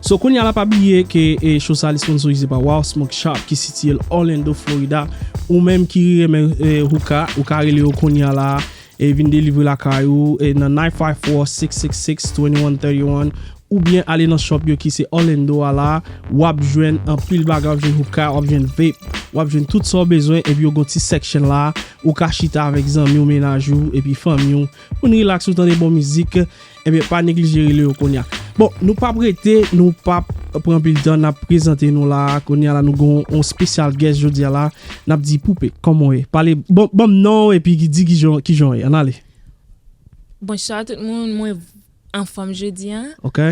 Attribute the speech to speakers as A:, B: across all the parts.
A: So kounya la pa bliye ke show sa li sponsorize pa Wow Smoke Shop ki sitiye l Orlando Florida ou menm ki renmen hookah ou ka rele yo kounya la e vin delivre lakay ou nan 954-666-2131 oubyen ale nan shop yo ki se Orlando a la wap jwenn anpil bagay wap jwenn hookah wap jwenn vape wap jwenn tout sa w bezwen epi yo gen yon ti section la ou ka chita avèk zanmi w mennaj ou epi fanmi w pou n relax ou tande bon mizik. Ebyen eh pa neglije rele yo konya. Bon, nou pap rete, nou pap pran pil tan nap prezante nou la. Konya la nou gon on special guest jodia la. Nap di poupe, koman we? Pale, bon, bon non epi ki di ki jan, ki jan we? Anale.
B: Bonsoir tout moun, mwen anfom jodia. Ok.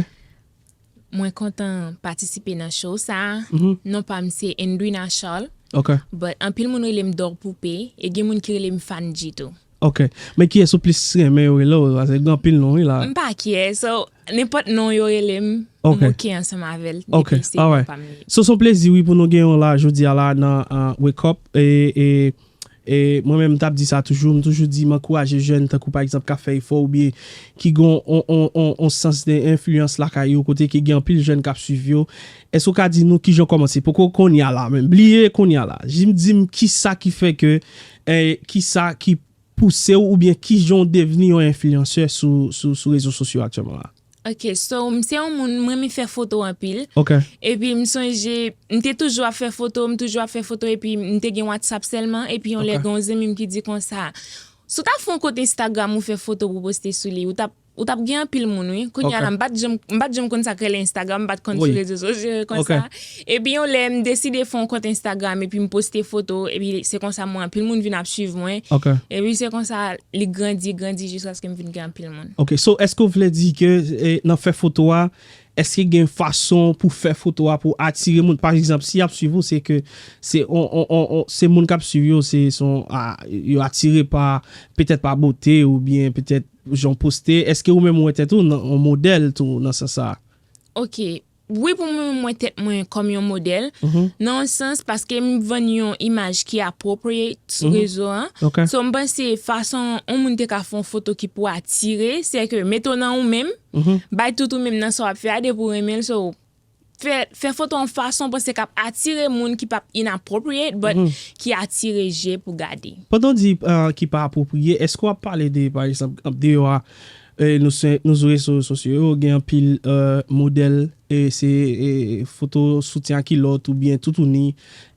B: Mwen kontan patisipe nan show sa a. Non pa m se Endrina Charles. Ok. But
A: anpil moun rele
B: m Dor Poupe e gen moun ki rele m Fandji tou. Ok. Men
A: kiyès ou plis renmen yo rele w? Paske gen anpil non wi la. M pa kyè. So,
B: nenpòt non yo rele m, m oke ansanm avè l depi se non pa m li. Ok. Alright.
A: So s on plezi wi pou nou gen w la jodi a la nan Wake Up. E E mwen menm m tap di sa toujou, m toujou di m ankouraje jèn tankou pa egzanp kap fè efò oubyen ki gen yon sans de enfliyans lakay yo kote ke gen anpil jèn kap swiv yo, èske ou ka di nou kijan ou kòmanse poko konnya la menm, bliye konnya la, jis di m kisa ki fè ke kisa ki pouse w oubyen kijan ou devni yon enfliyansè sou rezo sosyo aktyèlman la? Ok so m
B: se yon moun m renmen fè foto anpil Ok. epi m
A: sonje
B: m te toujou ap fè foto m toujou ap fè foto epi m te gen whatsapp sèlman epi yon lè Ok. gen yon zanmi m ki di konsa si w ta fè yon kont instagram ou fè foto pou w poste sou li ou tap ou tap gen anpil moun wi kounya Ok. la m pat janm m pat janm konn sa k rele instagram m pat konn sou Wi. rezo sosyo yo Ok. konsa. Epi yon lè m deside fon kont Instagram epi m poste foto epi se konsa mwen anpil moun vin ap swiv mwen epi se konsa li grandi grandi jiskaske m vin gen anpil moun. Ok so eske w vle di
A: ke nan fè foto a eske gen fason pou fè foto a pou atire moun pa egzanp si yap swiv ou se ke se yon se moun kap swiv yo se son yo atire pa petèt pa bote oubyen petèt jan w poste eske ou menm ou wè tèt ou nan yon modèl tou nan sans sa a. Ok
B: Wi pou mwen m wè tèt mwen kòm yon modèl nan yon sans paske m vann yon imaj ki appropriate sou rezo an so m panse fason yon moun te ka fè yon foto ki pou atire se ke mete w nan ou menm bay tout ou menm nan sa w ap fè a depi w renmen l so fè foto yon fason w panse k ap atire moun ki p ap inappropriate but ki atire je pou gade. Pandan w di
A: ki pa apwopriye èske w ap pale de pa egzanp deyò a Nou sou rezo sosyo yo gen anpil modèl se foto soutyen ak kilòt oubyen toutouni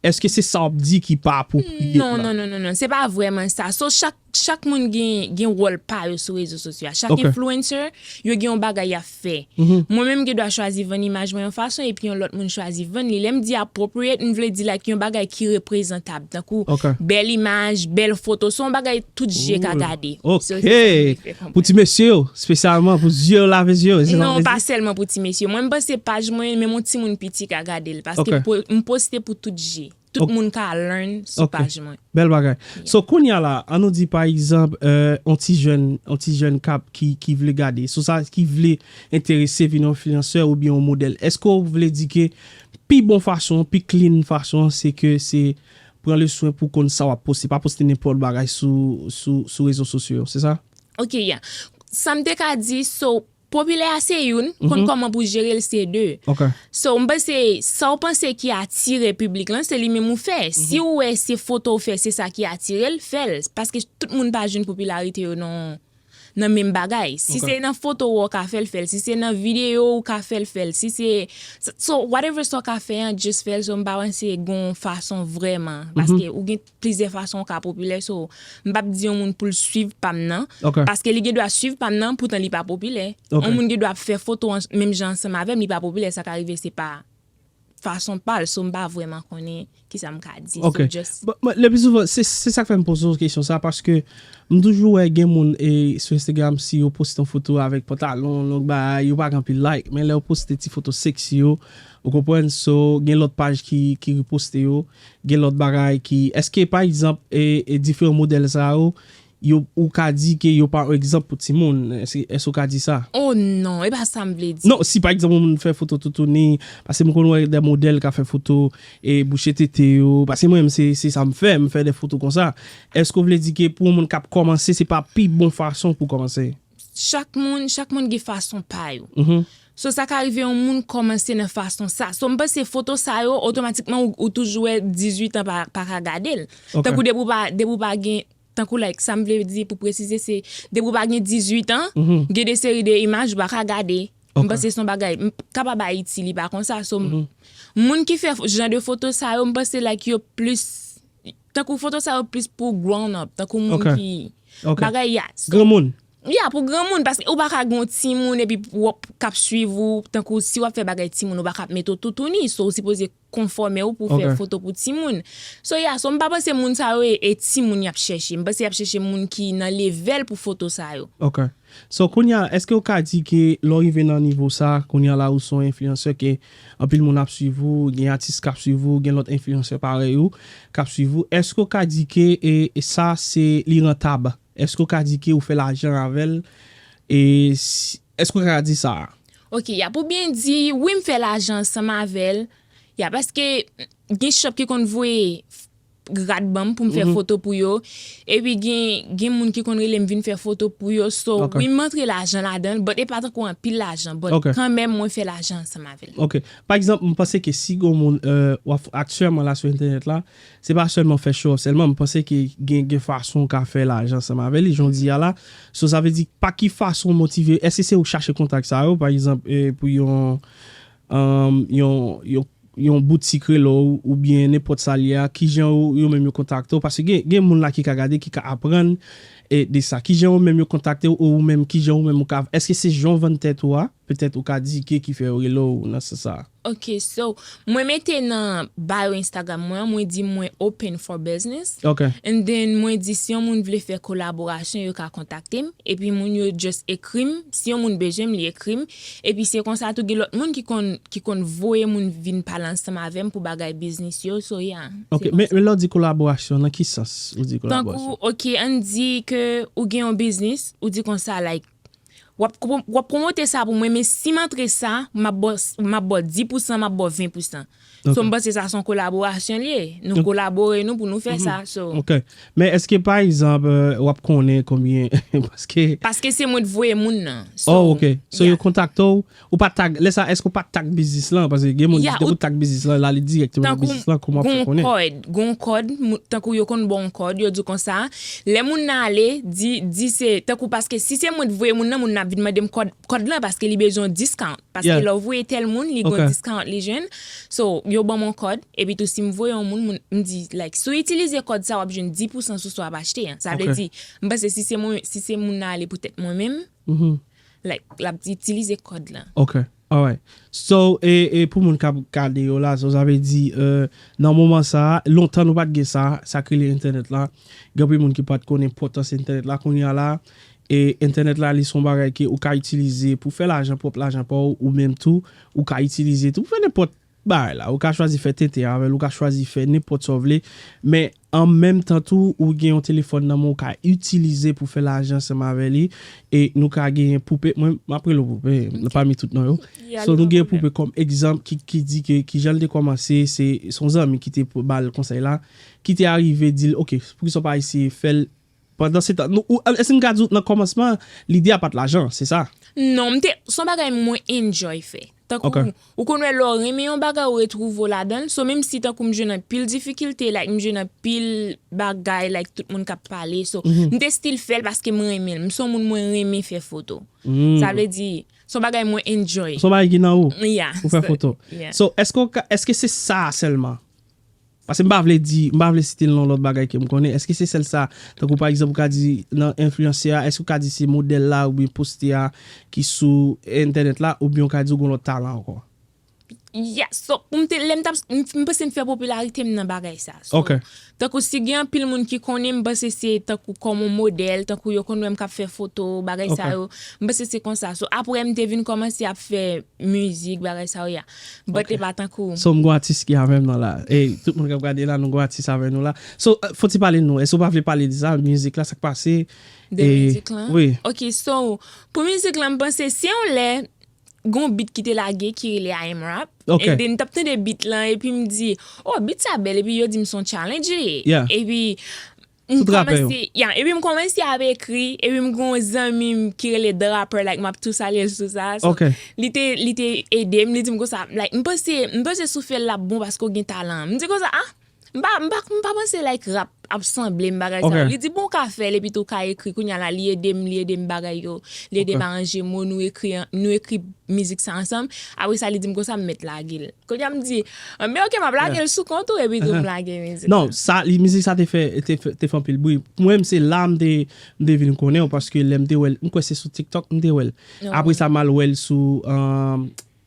A: eske se sa wap di ki pa apwopriye pou la? Non non non se
B: pa vrèman sa so chak moun gen wòl pa yo sou rezo sosyo a chak influencer yo gen yon bagay yap fè mwen menm gen dwa chwazi vann imaj mwen yon fason epi yon lòt moun chwazi vann li lèm di appropriate m vle di like yon bagay ki reprezantab tankou bèl imaj bèl foto se yon bagay Tout zye ka gade.
A: Ok! Pou ti mesye yo, spesyalman pou zye yo lave zye yo. Non, pa sèlman pou
B: ti mesye. Mwen m panse paj mwen, menm yon timoun piti ka gade l. Paske m poste pou tout zye. Tout moun ka learn sou paj mwen. Ok, bèl bagay. So,
A: kounye a la, an nou di pa egzanp, yon ti jèn, yon ti jèn kap, ki vle gade, sou sa, ki vle enterese vin yon enfliyansè oubyen yon modèl. Èske ou vle di ke pi bon fason, pi clean fason, se ke se Pran le swen pou konn sa wap poste, pa poste nenpòt bagay sou sou sou rezo sosyo yo, se sa? Ok ya.
B: Sam te ka di so popilè a se youn, konn kòman pou jerel se 2. Ok. So m panse sa w panse ki atire piblik lan se li menm ou fè. Si w wè se foto w fè se sa ki atire l, fè l. Paske tout moun pa jwenn popilarite yo nan yon. nan menm bagay si se nan foto ou ou ka fèl fèl si se nan video ou ka fèl fèl si se so whatever sa ou ka fè an just fèl so m pa panse gon fason vrèman paske ou gen plizyè fason ou ka popilè so m pap di yon moun poul swiv pam nan paske li gen dwa swiv pam nan poutan li pa popilè yon moun gen dwa ap fè foto menm jan ansanm avèm li pa popilè sa ka rive se pa. fason pal so mpa vrèman konnen kisa mka di so just. Bon
A: le pi
B: souvan
A: se sak fèm poze w kesyon sa paske mtoujou wè gen moun e sou Instagram si yo poste yon foto avèk pantalon long bagay yo pa gen anpil like men lè yo poste ti foto sexy yo ou konprann so gen lòt paj ki reposte yo gen lòt bagay ki eske pa egzanp diferan modèl sa yo Yo ou ka di ke yo pa yon egzanp pou timoun. Èske ou ka di sa? Oh non, e pa
B: sa m vle di. Non, si pa egzanp yon moun fè
A: foto toutouni, pase m konn wè dè modèl ka fè foto e bouche tete yo, pase mwen menm se sa m fè, m fè dè foto konsa. Èske ou vle di ke pou yon moun k ap kòmanse se pa pi bon fason pou kòmanse? Chak moun,
B: chak moun gen fason pa yo. So sa ka rive yon moun kòmanse nan fason sa. So m panse foto sa yo otomatikman ou toujou wè 18 an pa ka gade l. Tankou depi ou pa, depi ou pa gen. Tankou like sa m vle di pou presize se depi ou pa gen 18 an gen de seri de imaj ou pa ka gade m panse son bagay kapab ayiti li pa konsa so moun ki fè jan de foto sa yo m panse like yo plis tankou foto sa yo plis pou grown up tankou moun ki bagay ya granmoun ya
A: pou granmoun
B: paske ou pa ka gen yon timoun epi wap kap swiv ou tankou si wap fè bagay timoun ou pa ka ap mete w toutouni so ou sipoze. konfòme ou pou w fè foto pou timoun. So ya, so m pa panse moun sa yo e timoun y ap chèche. M panse y ap chèche moun ki nan levèl pou foto sa yo. Ok. So
A: kounye a, èske ou ka di ke lè w rive nan nivo sa, kounye a la ou se yon enfliyansè ke anpil moun ap swiv ou, gen atis k ap swiv ou, gen lòt enfliyansè parèy ou k ap swiv ou. Èske ou ka di ke sa se li rantab? Èske ou ka di ke ou fè lajan avè l? E Èske ou ka di sa a? Ok, y ap ou byen
B: di, wi m fè lajan ansanm avè l, y a paske gen shop ki konn voye rad ban m pou m fè foto pou yo, epi gen moun ki konn rele m vin fè foto pou yo, so wi m antre lajan ladan l, but e pa tankou anpil lajan, but kanmenm mwen fè lajan ansanm avè l. Ok, pa egzanp m
A: panse ke si gen yon moun, aktiyèman la sou entènèt la, Se pa sèlman fè show off sèlman, m panse ke gen gen fason w ka fè lajan ansanm avè li jan w di a la. So sa vle di pa ki fason w motive, èske se ou k chache kontak sa yo, pa egzanp pou yon yon yon yon boutik rele w oubyen nenpòt sa l ye a, kijan ou yo menm yo kontakte w, paske gen gen moun la ki ka gade ki ka aprann de sa. Kijan yo menm yo kontakte w ou menm kijan ou menm ou ka, èske se jan w vann tèt ou a, petèt ou ka di ke ki fè yo rele w nan sans sa a? Ok so
B: mwen mete nan bio instagram mwen an mwen di mwen open for business Ok. and then
A: mwen di
B: si yon moun vle fè kolaborasyon yo ka kontaktem epi moun yo just ekrim si yon moun bezwenm li ekrim epi se konsa tou gen lòt moun ki konn ki konn voye moun vin pale ansanm avèm pou bagay business yo so yeah se Ok konsa. men lè w di
A: kolaborasyon nan ki sans ou di kolaborasyon? Tankou ok ann di
B: ke ou gen yon business ou di konsa like Wap wap promote sa pou mwen men sim antre sa map baw map baw 10 pousan map baw 20 pousan so m panse sa son kolaborasyon li ye nou kolabore nou pou nou fè sa so. Ok men eske
A: pa egzanp wap konnen konbyen paske. Paske se mwen t voye moun nan
B: so. Oh ok so yo
A: kontakte w Ou pa tag, lè sa eske ou pa tag biznis lan? Paske gen moun, depi ou tag biznis lan, la li direkteman nan biznis lan, kouman pou konnen? Tankou, gen yon kòd, gen yon kòd,
B: tankou yo konn ba w yon kòd, yo di w konsa, lè moun nan ale, di, di se, tankou paske si se mwen t voye moun nan, moun nan ap vin mande m kòd, kòd lan paske li bezwen yon discount, paske lè w voye tèl moun, li gen yon discount li jwenn, so, yo ban m yon kòd, epi tou si m voye yon moun, moun, m di, like, si w itilize kòd sa w ap jwenn 10 pousan sou sa w ap achte an, sa vle di, m panse si se mwen, si se moun nan ale poutèt mwen menm, Like lap itilize kòd lan. Ok alright
A: so e e pou moun kap gade yo la so sa vle di e nan moman sa lontan nou pat gen sa sak rele entènèt la gen anpil moun ki pat konn enpòtans entènèt la kounya la e entènèt la li son bagay ke ou ka itilize pou fè lajan pwòp lajan paw ou menm tou ou ka itilize tou pou fè nenpòt bagay la ou ka chwazi fè tenten avèl ou ka chwazi fè nenpòt sa w vle men an menm tan tou ou gen yon telefòn nan men w ka itilize pou fè lajan ansanm avè li e nou ka genyen poupe mwen map rele w poupe nan pami tout non yo so nou gen poupe kòm egzanp ki di ke kijan l te kòmanse se yon zanmi ki te bal konsèy la ki te arive di l ok poukisa w pa eseye fè l Pandansetan, nou, ou, èske n ka di w nan kòmansman an, lide a pa t lajan, se sa? Non, m te, s on
B: bagay mwen enjoy fè. Tankou, ou konn wè lè w renmen yon bagay ou retwouve w ladan l, so menmsi tankou m jwenn anpil difikilte, like m jwenn anpil bagay like tout moun k ap pale, so m te stil fè l paske m renmen l, m s on moun mwen renmen fè foto. Sa vle di, s on bagay mwen enjoy. S on bagay ki nan ou?
A: Ya. Ou fè foto.
B: So,
A: èske w ka, èske se sa a sèlman Pase m pa vle di, m pa vle site non lòt bagay ke m konnen, èske se sèl sa? Tankou pa egzanp ou ka di nan enfliyansè a, èske ou ka di se modèl la oubyen poste a ki sou entènèt la oubyen ou ka di ou gon lòt talan ankò?
B: Yes, so pou m te, lè m tap, m panse m fè popilarite m nan bagay sa. So, tankou si
A: gen anpil
B: moun ki konnen m panse se tankou kòm on modèl, tankou yo konn wè m kap fè foto, bagay sa yo, m panse se konsa. So aprè m te vin kòmanse ap fè mizik, bagay sa yo ya. But li pa tankou. So m gon atis ki avèm
A: nan la e tout moun kap gade la nou gon atis avè nou la so fò ti pale nou èske ou pa vle pale de sa mizik la sak pase de mizik
B: lan wi ok so pou mizik lan m panse se yon lè gon bit ki te lage ki rele I am rap ok e m tap tande
A: bit
B: lan epi m di oh bit sa bèl epi yo dim son challenge li ye yeah epi M kòmanse
A: ya epi m kòmanse
B: ap ekri epi m gen yon zanmi m ki rele the rapper like map tou salye l sou sa so li te li
A: te
B: ede m li di m konsa like m panse m panse sou fè l lap bon paske w gen talan an m di konsa ah m pa m pa m pa panse like rap ap sanble m bagay sa yo li di bon w ka fè l epi tou w ka ekri kounya la li ede m li ede m bagay yo li ede m aranje mo nou ekri nou ekri mizik sa ansanm apresa li di m konsa m mèt lage l. Kounye a m di, anben ok m ap lage l sou kont ou epi tou m lage mizik la. Non, sa li, mizik sa
A: te fè, te fè, te fè anpil bri. Pou mwen menm se la m te, m te vin konnen w paske lè m te wè l, m kwè se sou TikTok m te wè l. Apre sa m al wè l sou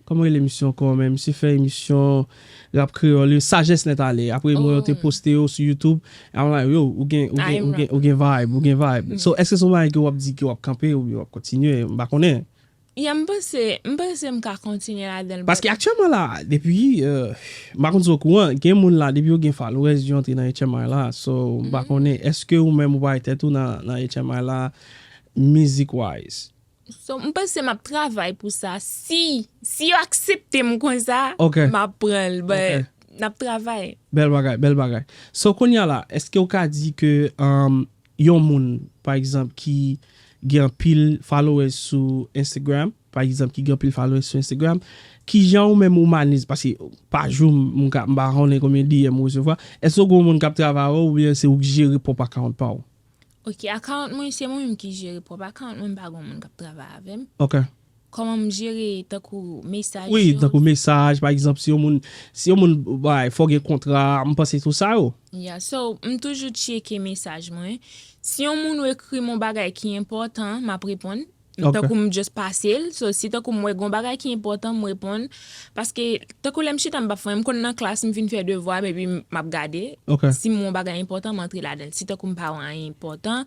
A: kòman rele misye ankò menm, misye fè emisyon Rap Kreyòl yo, Sajès Nèt Ale. Apre mwen yo te poste yo sou YouTube, a m like yo, ou gen, ou gen, ou gen, ou gen vibe, ou gen vibe. So, èske se yon bagay ke w ap di ke w ap kanpe oubyen w ap kontinye, m pa konnen. Yeah m panse,
B: m panse m ka kontinye ladan l but. Paske aktyèman la a
A: depi m pa konn si w okouran gen moun la depi yo gen followers yo antre nan HMI la so m pa konnen eske ou menm ou bay tèt ou nan HMI la mizik wise. So m panse
B: m ap travay pou sa si si yo aksepte m konsa m ap pran l but n ap travay. Bèl bagay bèl bagay
A: so kounya la eske ou ka di ke Yon moun pa egzanp ki gen anpil followers sou Instagram, pa egzanp ki gen anpil followers sou Instagram, kijan ou menm ou manez, paske pa jou m ka, m pa konnen konbyen DM ou resevwa, èske ou gen yon moun kap travay avèw oubyen se ou k jere pwòp account pa ou? Ok, account
B: mwen se mwen menm ki jere pwòp account mwen, m pa gen yon moun kap travay avèm. Ok, Kòman
A: m jere
B: tankou mesaj yo. Wi tankou mesaj
A: pa egzanp si yon moun si yon moun bay fò gen kontra m panse sou sa yo. Ya so m
B: toujou tcheke mesaj mwen si yon moun ou ekri m yon bagay ki enpòtan m ap reponn tankou m just pase l so si tankou m wè gen yon bagay ki enpòtan m reponn paske tankou lè m chita m pa fè anyen m konn nan klas m fin fè devwa m epi m ap gade si m wè yon bagay enpòtan m antre ladan l si tankou m pa wè anyen enpòtan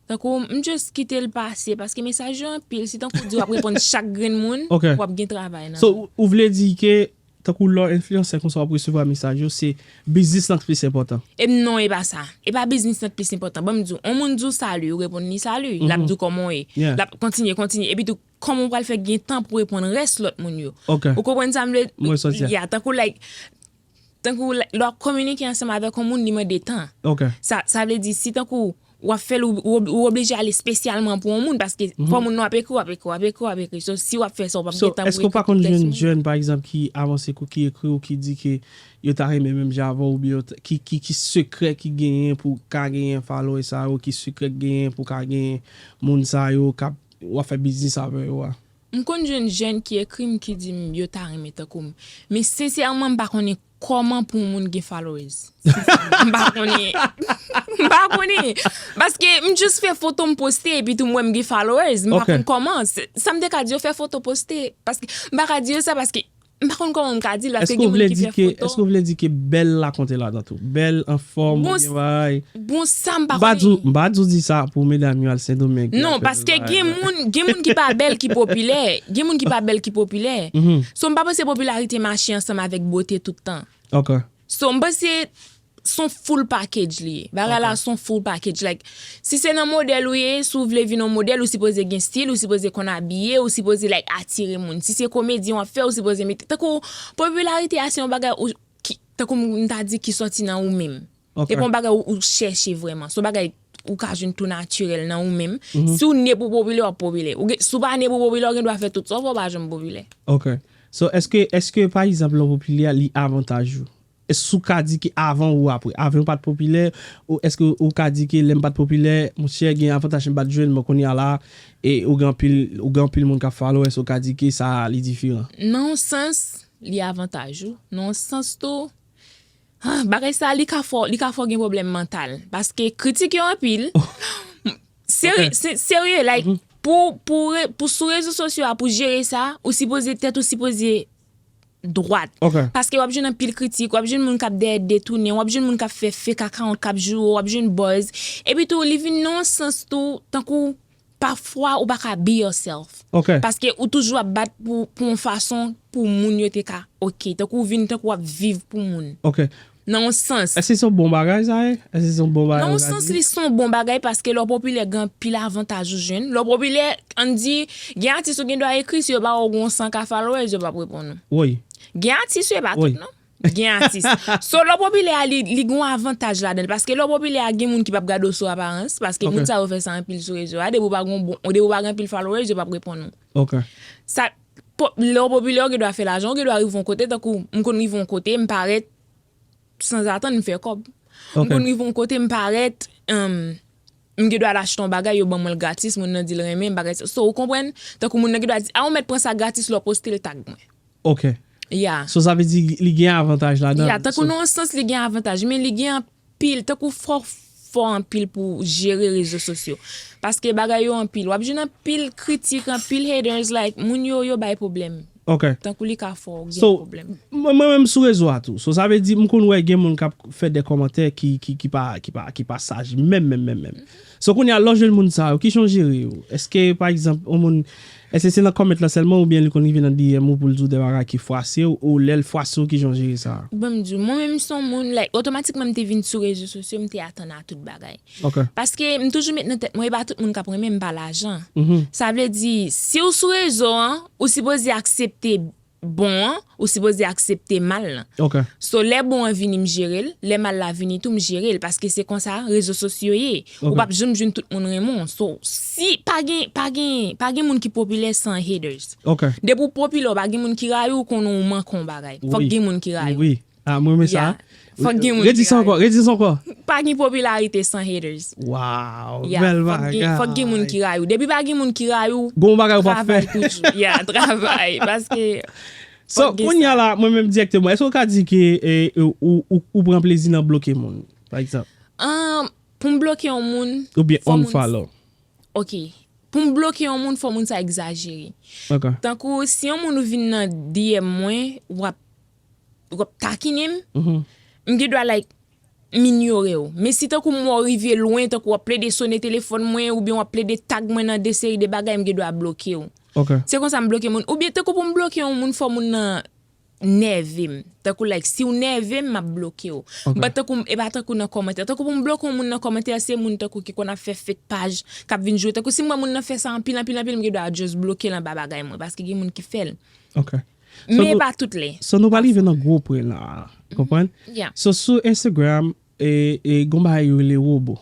B: Tankou m just kite l pase paske mesaj yo anpil se tankou w di wap reponn chak grenn moun wap gen travay nan. So ou vle di ke
A: tankou lè w enfliyansè konsa wap resevwa mesaj yo se biznis lan k plis enpòtan? Em non e pa sa,
B: e pa biznis lan k plis enpòtan banm di w on moun di w salut ou reponn li salut lap di w kòman w ye lap kontinye kontinye epi tou kòman w pral fè gen tan pou reponn rès lòt moun yo ou konprann sa m vle di a tankou like Tankou lè wap kominike ansanm avèk yon moun li mande tan. Sa vle di si tankou wap fè l ou oblije ale spesyalman pou yon moun paske fò moun nan wap ekri wap ekri wap ekri wap ekri so si wap fè sa ou pap gen tan pou ekri tout tèks moun. So èske ou pa konn jwenn
A: jèn pa egzanp ki avanse kou ki ekri ou ki di ke yo ta renmen menm jan avèw oubyen yo ta ki sekrè ki genyen pou ka genyen followers sa yo ki sekrè ki genyen pou ka genyen moun sa yo kap wap fè biznis avè yo a? M konn jwenn jèn
B: ki ekri m ki di m yo ta renmen tankou m. Men sensèman m pa konnen kòman pou yon moun gen followers. Sensèman m pa konnen. M pa konnen. Paske m just fè foto m poste epi tou m wè m gen followers. M pa konn kòman. Sa m te ka di yo fè foto poste. Paske m pa ka di yo sa paske M pa konn kòman m ka di l paske gen moun ki fè foto. Èske w vle di ke bèl
A: la konte ladan tou? Bèl, anfòm, bon jan bagay?
B: Bon sa m pa konnen. M pa di w di sa pou
A: medam yo al Sendomeng. Non, paske gen
B: moun, gen moun ki pa bèl ki popilè. Gen moun ki pa bèl ki popilè. So m pa panse popilarite mache ansanm avèk bote tout tan. Ok. So m panse son full package li ye. Bagay la son full package. Like, si se nan modèl ou ye, si w vle vin yon modèl, ou sipoze gen stil, ou sipoze konn abiye, ou sipoze like atire moun. Si se komedyen w ap fè, ou sipoze mete. Tankou, popilarite a se yon bagay ou, ki, tankou m ta di ki sòti nan ou menm. Ok. Se pa yon bagay ou chèche vrèman. Se yon bagay ou ka jwenn tou natirèl nan ou menm. Si w ne pou w popilè, w ap popilè. Ou gen, si w pa ne pou w popilè, ou gen dwa fè tout sa w vle, w pa janm popilè. Ok. So, èske,
A: èske pa egzanp lè w popilè a, li avantaj ou? Èske w ka di ke avan ou apre? Avan ou pa t popilè? Ou èske ou ka di ke lè m pa t popilè, monchè gen avantaj m pa t jwenn bon kounye a la e ou gen anpil ou gen anpil moun k ap follow w èske ou ka di ke sa a li diferan? Nan yon sans
B: li avantaj ou, nan yon sans tou ah bagay sa a li ka fè w li ka fè w gen pwoblèm mantal paske kritik yo anpil seri serye like pou pou pou sou rezo sosyo a pou jere sa ou sipoze tèt ou sipoze dwat. Paske wap jwenn anpil kritik, wap jwenn moun kap dèyè detounen, wap jwenn moun kap fè fake account kap joure w, wap jwenn buzz. Epi tou li vin nan yon sans tou tankou pafwa ou pa ka be yourself. Paske ou toujou ap bat pou yon fason pou moun yo te ka ok. Tankou ou vin tankou wap viv pou moun. Nan yon sans. Èske se yon bon bagay sa
A: ye? Èske se yon bon bagay ou ka di? Nan yon sans li se yon
B: bon bagay paske lè w popilè gen anpil avantaj ou jwenn. Lè w popilè, ann di, gen atis ou gen dwa ekri si yo ba ou yon 100 ka followers yo p ap reponn ou. Woy. Gen
A: atis yo e pa
B: tout non. Gen atis. So lè w popilè a li gen yon avantaj ladan l paske lè w popilè a gen moun ki p ap gade w sou aparans paske moun sa yo fè sa anpil sou rezo a depi w pa gen anpil followers yo p ap reponn ou. Ok. Sa. Lè w popilè ou gen dwa fè lajan, ou gen dwa rive yon kote tankou m konn rive yon kote m parèt sanzatann m fè kòb. M konn rive yon kote m parèt m gen dwa al achte yon bagay yo ban mwen l gratis moun nan di l renmen bagay sa. So ou konprann? Tankou moun nan gen dwa di a ou mèt pran sa gratis lè w poste l tag mwen. Ok. Yeah. So sa vle di li
A: gen avantaj ladan l. Yeah, tankou nan yon sans li
B: gen avantaj men li gen pil tankou fò fò anpil pou jere rezo sosyo paske bagay yo anpil wap jwenn anpil kritik anpil haters like moun yo yo bay pwoblèm tankou li ka fè w gen pwoblèm. Mwen menm sou
A: rezo a tou so sa vle di m konn wè gen moun kap fè de kòmantè ki pa saj menm menm menm menm. So kounye a lè w jwenn moun sa yo, ki jan w jere yo? Eske pa egzanp yon moun, eske se nan comment lan sèlman oubyen li konn rive nan DM ou pou l di w de bagay ki fwase w ou lè l fwase w ki jan w jere sa? Ban m di w, mwen menm m son
B: moun like otomatikman m te vin sou rezo sosyo m te atann a tout bagay. Ok. Paske m toujou met nan tèt mwen e pa tout moun k ap renmen m pa lajan. Sa vle di si w sou rezo an ou sipoze aksepte bon an ou sipoze aksepte mal lan so lè bon an vini m jere l lè mal la vini tou m jere l paske se konsa rezo sosyo ye ou pap janm jwenn tout moun renmen w so si pa gen pa gen pa gen moun ki popilè san haters depi w popilè w pa gen moun ki rayi w konnen w manke yon bagay fòk gen moun ki rayi w. Ah mwen renmen sa.
A: Redi
B: sa ankò, redi sa ankò.
A: Pa gen popilarite
B: san haters. Waww,
A: bèl bagay. Ya, fòk gen moun ki rayi ou.
B: Depi pa gen moun ki rayi ou, travay toujou.
A: Ya, travay.
B: Paske, fòk gen sa. So, kounya
A: la, mwen menm direkteman, èske ou ka di ke ou pran plezi nan bloke moun, pa egzanp? Amm, pou m
B: bloke yon moun, fò moun. Ou byen
A: unfollow. Ok,
B: pou m bloke yon moun, fò moun sa egzajere. Ok. Tankou, si yon moun vin nan DM mwen, wap. ou ap takine m, m gen dwa like m inyore w. Men si tankou m wè w rive lwen, tankou w ap plede sone telefòn mwen oubyen w ap plede tag mwen nan de seri de bagay m gen dwa bloke w. Se konsa m bloke moun. Oubyen tankou pou m bloke yon moun fò moun nan nève m. Tankou like si w nève m m ap bloke w. M pa tankou, e pa tankou nan kòmantè. Tankou pou m bloke yon moun nan kòmantè se moun tankou ki konn ap fè fake paj, k ap vin jwe. Tankou si m wè moun nan fè sa anpil anpil anpil m gen dwa just bloke l anba bagay mwen paske gen moun ki fè l. Men e pa tout lè. So nou pa rive nan gwo
A: pwen la a. Konprann? So sou Instagram, e gon bagay yo rele robo.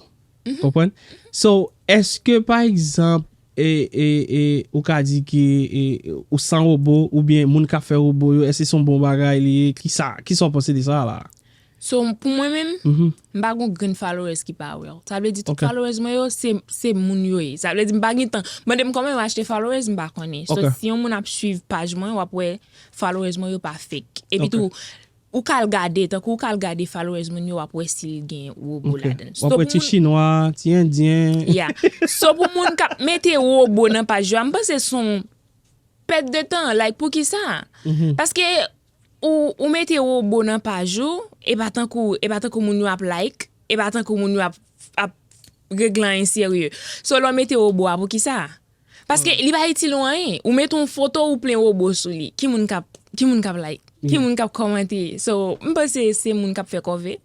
A: Konprann? So eske pa egzanp, e, e, e, ou ka di ke ou san robo, oubyen moun kap fè robo yo, eske son bon bagay li ye? Ki sa, ki sa ou panse de sa la a? So pou mwen
B: menm, m pa gon grenn followers ki pa wè w. Sa vle di tout followers mwen yo se moun yo ye. Sa vle di m pa gen tan. Mande m kòman yo achte followers m pa konnen. So si yon moun ap swiv paj mwen w ap wè followers mwen yo pa fake. Epi tou ou ka al gade, tankou ou ka al gade followers moun yo w ap wè si l gen wobo ladan l. W ap wè ti chinwa,
A: ti endyen. Ya. So pou
B: moun k ap mete wobo nan paj yo a m panse son pèt de tan. Like poukisa? Paske. Ou ou mete robo nan paj ou epa tankou epa tankou moun yo ap like epa tankou moun yo ap ap regle anyen serye so lè w mete robo a poukisa paske li pa itil ou anyen ou mete yon foto ou plen robo sou li ki moun kap ki moun kap like ki moun kap kòmante so m panse se moun kap fè kòve.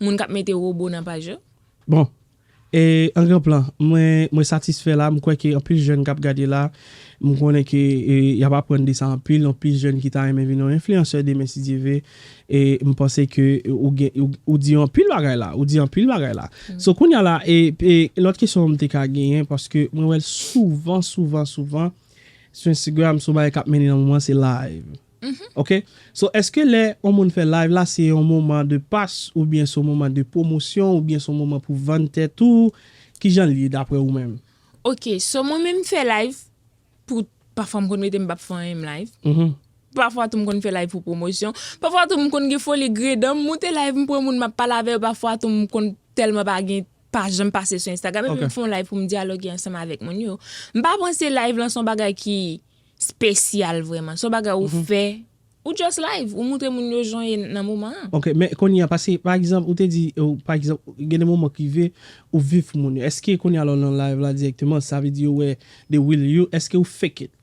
B: Moun kap mete robo nan paj yo. Bon
A: E an gran plan mwen mwen satisfè la m kwè ke anpil jèn kap gade la m konnen ke yap aprann de sa anpil anpil jèn ki ta renmen vin yon enfliyansè demen si Dye ve e m panse ke ou gen ou di anpil bagay la ou di anpil bagay la so kounya la e lòt kesyon m te ka genyen paske mwen wèl souvan souvan souvan sou enstigram sou bagay kap mennen nan moman se live. Ok so eske lè on moun fè live la se on moman de pas ou byen son moman de pwomosyon ou byen son moman pou vann tèt ou kijan l ye daprè ou menm. Ok so mwen
B: menm fè live pou pafwa m konn mete m pap fè anyen live pafwa tou m konn fè live pou pwomosyon pafwa tou m konn gen foli gredan m moute live m pran moun map pale avè yo pafwa tou m konn tèlman pa gen pa janm pase sou instagram epi m fè on live pou m dyaloge ansanm avèk moun yo m pa panse live lan son bagay ki Spesyal vreman. Son bagay ou fè, ou just live, ou moutre moun yo jan ye nan moman an. Ok, men kounye a
A: pase pa egzanp ou te di ou pa egzanp gen de moman ki rive ou viv pou moun yo. Eske kounye a lè w nan live la dirèkteman sa vle di yo wè the real you, eske ou fake it?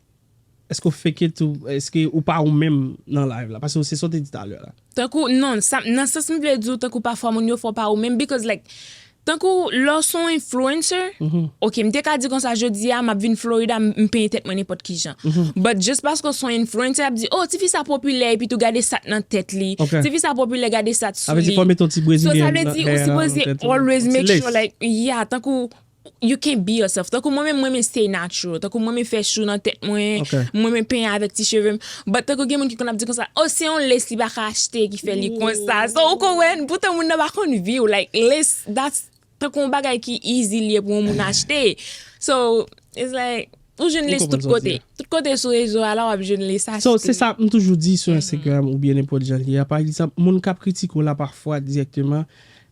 A: Eske ou fake it ou eske ou pa ou menm nan live la? Pase se sa w te di talè la. Tankou, non, sa,
B: nan sans m vle di w tankou pafwa moun yo fè w pa ou menm because like tankou lè w se yon influencer, ok m te ka di konsa jodi a m ap vin Florida m penyen tèt mwen nenpòt kijan but just paske w se yon influencer y ap di oh tifi sa popilè epitou gade sa k nan tèt li, tifi sa popilè gade sa k sou li,
A: so sa vle di ou sipoze
B: always make sure like yeah tankou You can be yourself tankou mwen menm m renmen stay natural tankou m renmen fè chou nan tèt mwen m renmen penyen avèk ti chevem but tankou gen moun ki konn ap di konsa oh se yon lace li paka achte ki fè li konsa so ou konn wè poutan moun nan pa konn viw like lace that's tankou yon bagay ki easy li ye pou yon moun achte so it's like. Ou jwenn li tout kote. Tout kote sou rezo a la wap jwenn li sa. So se sa m toujou di
A: sou Instagram oubyen nenpòt jan li a. Pa egzanp moun kap kritike w la pafwa dirèkteman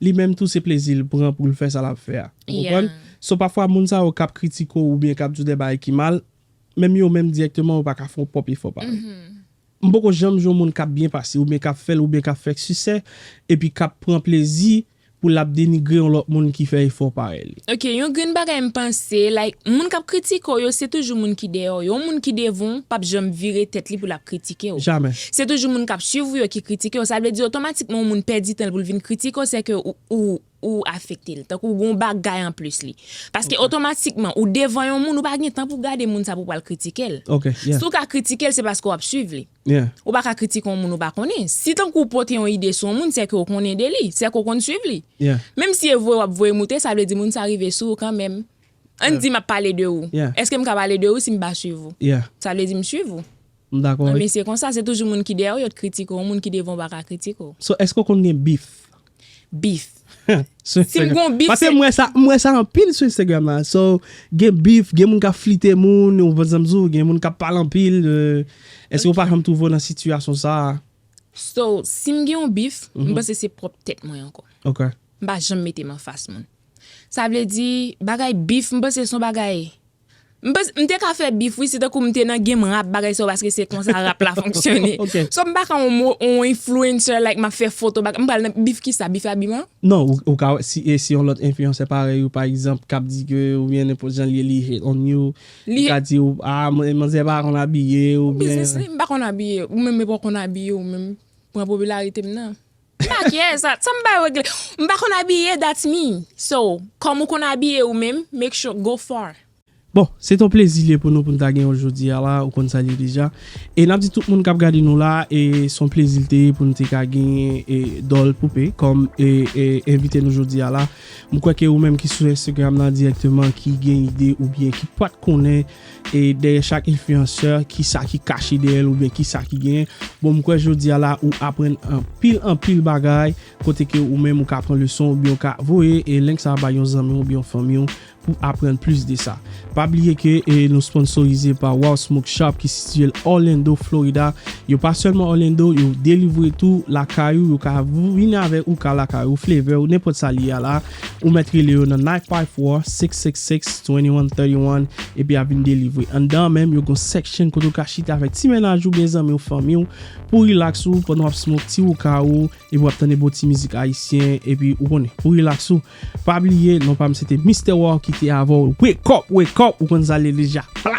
A: li menm tou se plezi l pran pou l fè sa lap fè a. Ou konprann? So pafwa moun sa yo kap kritike w oubyen kap di w dè bagay ki mal, menm yo menm dirèkteman yo paka fè w pwòp efò pa yo. M poko janm jwenn moun kap byen pase oubyen kap fèl oubyen kap fè sisè epi kap pran plezi pou lap denigre yon lòt moun ki fè efò parèy li. Ok yon grenn bagay
B: m panse like moun kap kritike w yo se toujou moun ki dèyè w yo yon moun ki devan w pap janm vire tèt li pou lap kritike w Jamè. se toujou moun
A: kap
B: swiv ou yo ki kritike w sa vle di otomatikman yon moun pèdi tan l pou l vin kritike w sè ke ou ou afekte l, tankou ou gen yon bagay anplis li. Paske otomatikman, ou devan yon moun, ou pa gen tan pou gade moun sa pou w pral kritike l. Si w ka
A: kritike l, se paske
B: w ap suiv li. Ou pa ka kritike
A: yon moun
B: ou pa konnen. Si tankou ou pote yon ide sou yon moun, sèke ou konnen de li, sèke ou konn suiv li. Menm si e vwe
A: w ap
B: voye moute, sa vle di moun sa rive sou ou kanmenm. Ann di m ap pale de ou. Èske m ka pale de ou
A: si m
B: pa suiv ou? Sa vle di m suiv
A: ou.
B: M dakò wi. Anmyy se konsa
A: se toujou
B: moun ki dèyè w yo t kritike w moun ki devan w pa ka kritike w. So eske w konn gen
A: beef? Beef. Si m gon beef se. Pase
B: m wè sa m wè sa
A: anpil sou Instagram la so gen beef gen moun kap flite moun ou konn sa m di w gen moun kap pale anpil eske w pa janm twouve w nan sitiyasyon sa. So
B: si m gen yon beef m panse se pwòp tèt mwen ankò. Ok. M pa janm
A: mete m
B: anfas moun. Sa vle di bagay beef m panse se yon bagay M panse m te ka fè bif wi se tankou m te nan game rap bagay sa yo paske se konsa rap la fonksyone so m pa ka on on influencer like m ap fè foto bagay m pral nan bif kisa bif abiman? Non ou ka wè
A: si e si on lòt influencer parèy ou pa egzanp k ap di ke oubyen nenpòt jan l ye li hate on you li ka di ou a manzè pa konn abiye oubyen. Ou biznis li m pa konn abiye
B: ou menm e pa w konn abiye ou menm pran popilarite m nan. Maquillage sa sa m bay regle m pa konn abiye that's me so kòm ou konn abiye ou menm make sure go far. Bon, se t on
A: plezi li ye pou nou pou n ta gen w jodi a la, ou konn sa l ye deja. E n ap di tout moun k ap gade nou la e s on plezi l te ye pou n te ka genyen e Doll Poupée kòm e e envite nou jodi a la. M kwè ke ou menm ki sou Instagram lan dirèkteman ki gen ide oubyen ki pa t konnen E dèyè chak influenceur kisa ki kache dèyèl oubyen kisa ki gen bon m kwè jodia la ou aprann anpil anpil bagay kote ke ou menm ou ka pran leson oubyen ou ka voye e link sa bay yon zanmiw oubyen yon fanmiw pou aprann plis de sa pa bliye ke nou sponsorize pa Waww Smoke Shop ki sitiyel Orlando Florida yo pa sèlman Orlando yo delivre tou lakay ou yo ka vini avèk ou ka lakay ou flavor ou nenpòt sa li a la. Ou mèt rele yo nan 954-666-2131 epi ap vin delivre. Anndan an menm, yo gen yon section kote ou ka chita avèk ti mennaj ou byen zanmi ou, fanmi ou, pou w relax ou pandan w ap smoke ti wouka ou epi w ap tande bon ti mizik ayisyen epi ou konnen, pou relax ou. Pa bliye, non pa m se te Mister War ki te avè w. Wake up! Wake up! Ou konn sa l ye deja. Pla!